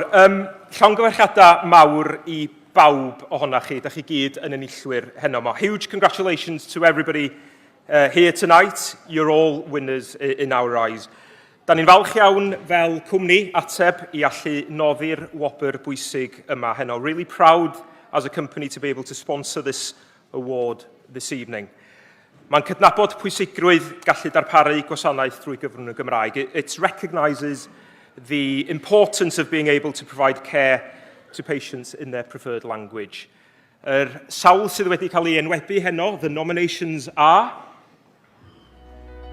Um, llongyfarchiadau mawr i bawb ohonoch chi, da chi gyd yn enillwyr heno mo. Huge congratulations to everybody uh, here tonight. You're all winners in our eyes. Da ni'n falch iawn fel cwmni ateb i allu noddi'r wobr bwysig yma heno. Really proud as a company to be able to sponsor this award this evening. Mae'n cydnabod pwysigrwydd gallu darparu gwasanaeth drwy gyfrwng y Gymraeg. It recognises the importance of being able to provide care to patients in their preferred language. Yr sawl sydd wedi cael ei enwebu heno, the nominations are...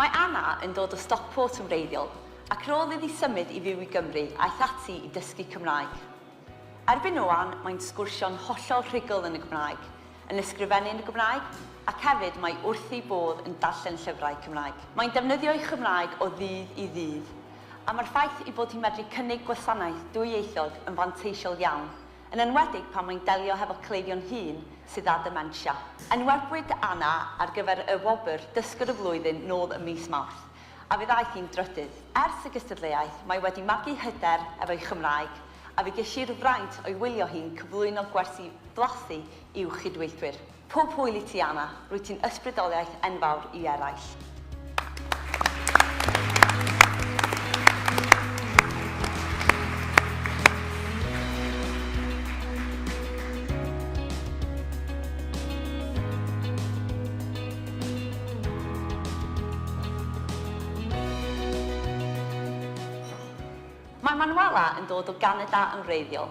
Mae Anna yn dod o Stockport yn wreiddiol ac ar ôl iddi symud i fyw i Gymru aeth ati i dysgu Cymraeg. Erbyn ŵan mae'n sgwrsio'n hollol rhugl yn y Gymraeg, yn ysgrifennu yn y Gymraeg ac hefyd mae wrthi bodd yn darllen llyfrau Cymraeg. Mae'n defnyddio'i Chymraeg o ddydd i ddydd a mae'r ffaith ei bod hi'n medru cynnig gwasanaeth dwyieithog yn fanteisiol iawn yn enwedig pan mae'n delio hefo cleifion hŷn sydd â dementia. Enwebwyd Anna ar gyfer y wobr 'Dysgwr y Flwyddyn' nôl ym mis Mawrth, a fe ddaeth hi'n drydydd. Ers y gystadleuaeth, mae wedi magu hyder efo'i Chymraeg, a fe ges i'r fraint o'i wylio hi'n cyflwyno gwersi blasu i'w chydweithwyr. Pob hwyl i ti, Anna. Rwyt ti'n ysbrydoliaeth enfawr i eraill. Mae Manuela yn dod o Ganada yn wreiddiol.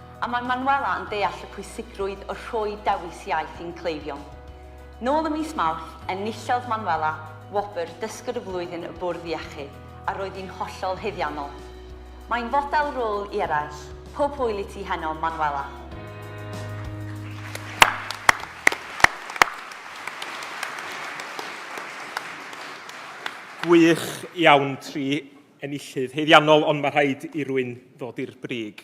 A mae Manuela yn deall y pwysigrwydd o rhoi dewis iaith i'n cleifion. Nôl ym mis Mawrth, enillodd Manuela wobr Dysgwr y Flwyddyn y Bwrdd Iechyd, a roedd hi'n hollol haeddiannol. Mae'n fodel rôl i eraill, pob hwyl i ti heno, Manuela! Gwych iawn, tri enillydd haeddiannol, ond mae rhaid i rwy'n ddod i'r brig.